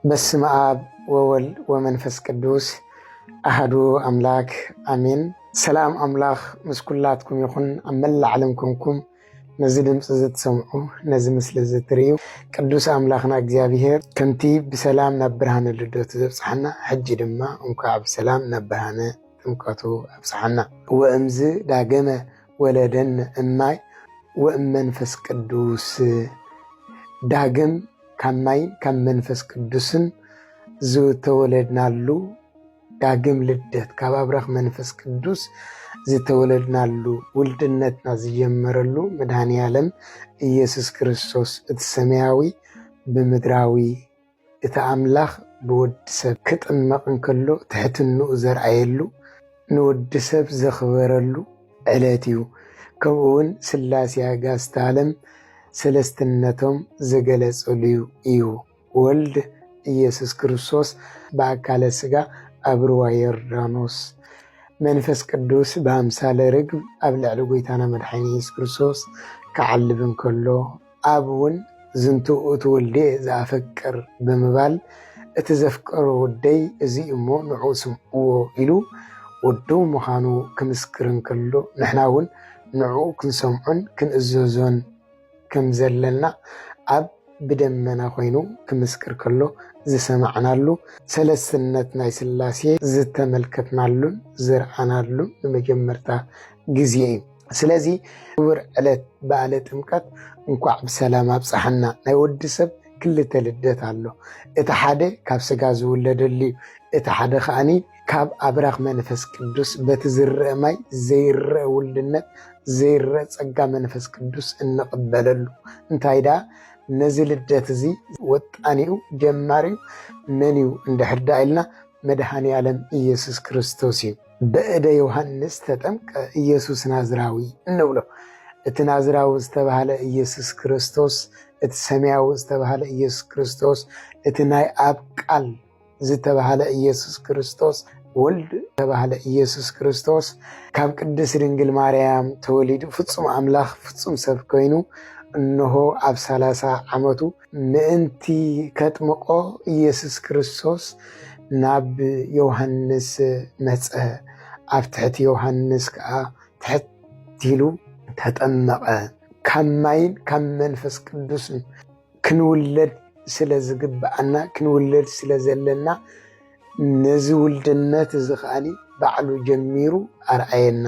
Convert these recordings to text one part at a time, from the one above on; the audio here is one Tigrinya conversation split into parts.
በስመ አብ ወወልድ ወመንፈስ ቅዱስ አህዱ አምላክ አሜን። ሰላም አምላክ ምስ ኩላትኩም ይኹን። ኣብ መላእ ዓለም ኮንኩም ነዚ ድምፂ እዚ ትሰምዑ ነዚ ምስሊ እዚ ትርእዩ ቅዱስ አምላክና እግዚኣብሔር ከምቲ ብሰላም ናብ ብርሃነ ልደቱ ዘብፅሓና ሕጂ ድማ እንኳዕ ብሰላም ናብ ብርሃነ ጥምቀቱ ኣብፅሓና። ወእምዝ ዳገመ ወለደን እማይ ወእም መንፈስ ቅዱስ ዳግም ካብ ማይን ካብ መንፈስ ቅዱስን ዝተወለድናሉ ዳግም ልደት ካብ ኣብራኽ መንፈስ ቅዱስ ዝተወለድናሉ ውልድነትና ዝጀመረሉ መድሃኒ ዓለም ኢየሱስ ክርስቶስ እቲ ሰማያዊ ብምድራዊ እቲ ኣምላኽ ብወዲ ሰብ ክጥመቕ እንከሎ ትሕትንኡ ዘርኣየሉ ንወዲ ሰብ ዘኽበረሉ ዕለት እዩ። ከምኡ ውን ስላሴ ኣጋእዝተ ዓለም ሰለስትነቶም ዝገለፀሉ እዩ። ወልድ ኢየሱስ ክርስቶስ ብኣካለ ስጋ ኣብ ሩባ ዮርዳኖስ፣ መንፈስ ቅዱስ ብኣምሳለ ርግብ ኣብ ልዕሊ ጎይታና መድሓኒና ኢየሱስ ክርስቶስ ክዓልብ እንከሎ፣ ኣብ ውን ዝንቱ እቲ ወልድየ ዘኣፈቅር ብምባል እቲ ዘፍቀሮ ወደይ እዚ እዩ እሞ ንዑ ስምዕዎ ኢሉ ወዱ ምዃኑ ክምስክር እንከሎ ንሕና ውን ንዕኡ ክንሰምዖን ክንእዘዞን ከም ዘለና ኣብ ብደመና ኮይኑ ክምስክር ከሎ ዝሰማዕናሉ ሰለስነት ናይ ስላሴ ዝተመልከትናሉን ዝረኣናሉን ንመጀመርታ ግዜ እዩ። ስለዚ ክቡር ዕለት በዓለ ጥምቀት እንኳዕ ብሰላም ኣብፀሓና። ናይ ወዲ ሰብ ክልተ ልደት ኣሎ። እቲ ሓደ ካብ ስጋ ዝውለደሉ እዩ። እቲ ሓደ ከዓኒ ካብ ኣብራኽ መንፈስ ቅዱስ በቲ ዝረአ ማይ ዘይረአ ውልድነት ዘይረአ ፀጋ መንፈስ ቅዱስ እንቕበለሉ እንታይ ደኣ ነዚ ልደት እዚ ወጣኒኡ ጀማሪኡ መን እዩ እንድሕር ዳ ኢልና መድሃኔ ዓለም ኢየሱስ ክርስቶስ እዩ። በእደ ዮሃንስ ተጠምቀ ኢየሱስ ናዝራዊ እንብሎ እቲ ናዝራዊ ዝተባህለ ኢየሱስ ክርስቶስ እቲ ሰማያዊ ዝተባህለ ኢየሱስ ክርስቶስ እቲ ናይ ኣብ ቃል ዝተባህለ ኢየሱስ ክርስቶስ ወልድ ዝተባህለ ኢየሱስ ክርስቶስ ካብ ቅድስት ድንግል ማርያም ተወሊዱ ፍጹም ኣምላኽ ፍጹም ሰብ ኮይኑ እነሆ ኣብ ሰላሳ ዓመቱ ምእንቲ ከጥምቆ ኢየሱስ ክርስቶስ ናብ ዮሃንስ መጸ፣ ኣብ ትሕቲ ዮሃንስ ከኣ ትሕት ኢሉ ተጠመቐ። ካብ ማይን ካብ መንፈስ ቅዱስን ክንውለድ ስለ ዝግብኣና ክንውለድ ስለ ዘለና ነዚ ውልድነት እዚ ከኣ ባዕሉ ጀሚሩ ኣርኣየና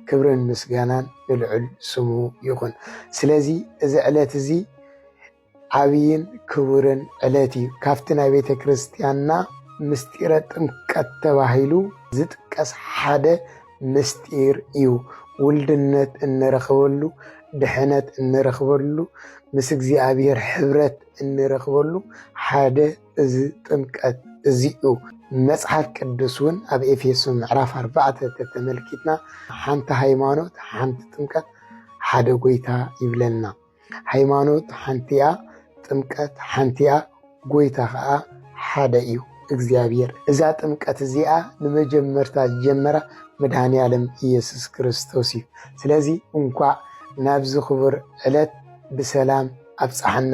ክብርን ምስጋናን ንልዑል ስሙ ይኹን። ስለዚ እዚ ዕለት እዚ ዓብይን ክቡርን ዕለት እዩ። ካብቲ ናይ ቤተ ክርስቲያንና ምስጢረ ጥምቀት ተባሂሉ ዝጥቀስ ሓደ ምስጢር እዩ። ውልድነት እንረኽበሉ፣ ድሕነት እንረኽበሉ፣ ምስ እግዚኣብሔር ሕብረት እንረኽበሉ ሓደ እዚ ጥምቀት እዚ እዩ። መጽሓፍ ቅዱስ እውን ኣብ ኤፌሶ ምዕራፍ ኣርባዕተ ተተመልኪትና ሓንቲ ሃይማኖት፣ ሓንቲ ጥምቀት፣ ሓደ ጎይታ ይብለና። ሃይማኖት ሓንቲ እያ፣ ጥምቀት ሓንቲ እያ፣ ጎይታ ከዓ ሓደ እዩ እግዚኣብሔር። እዛ ጥምቀት እዚኣ ንመጀመርታ ዝጀመራ መድኃኔ ዓለም ኢየሱስ ክርስቶስ እዩ። ስለዚ እንኳዕ ናብዚ ክቡር ዕለት ብሰላም ኣብፀሓና።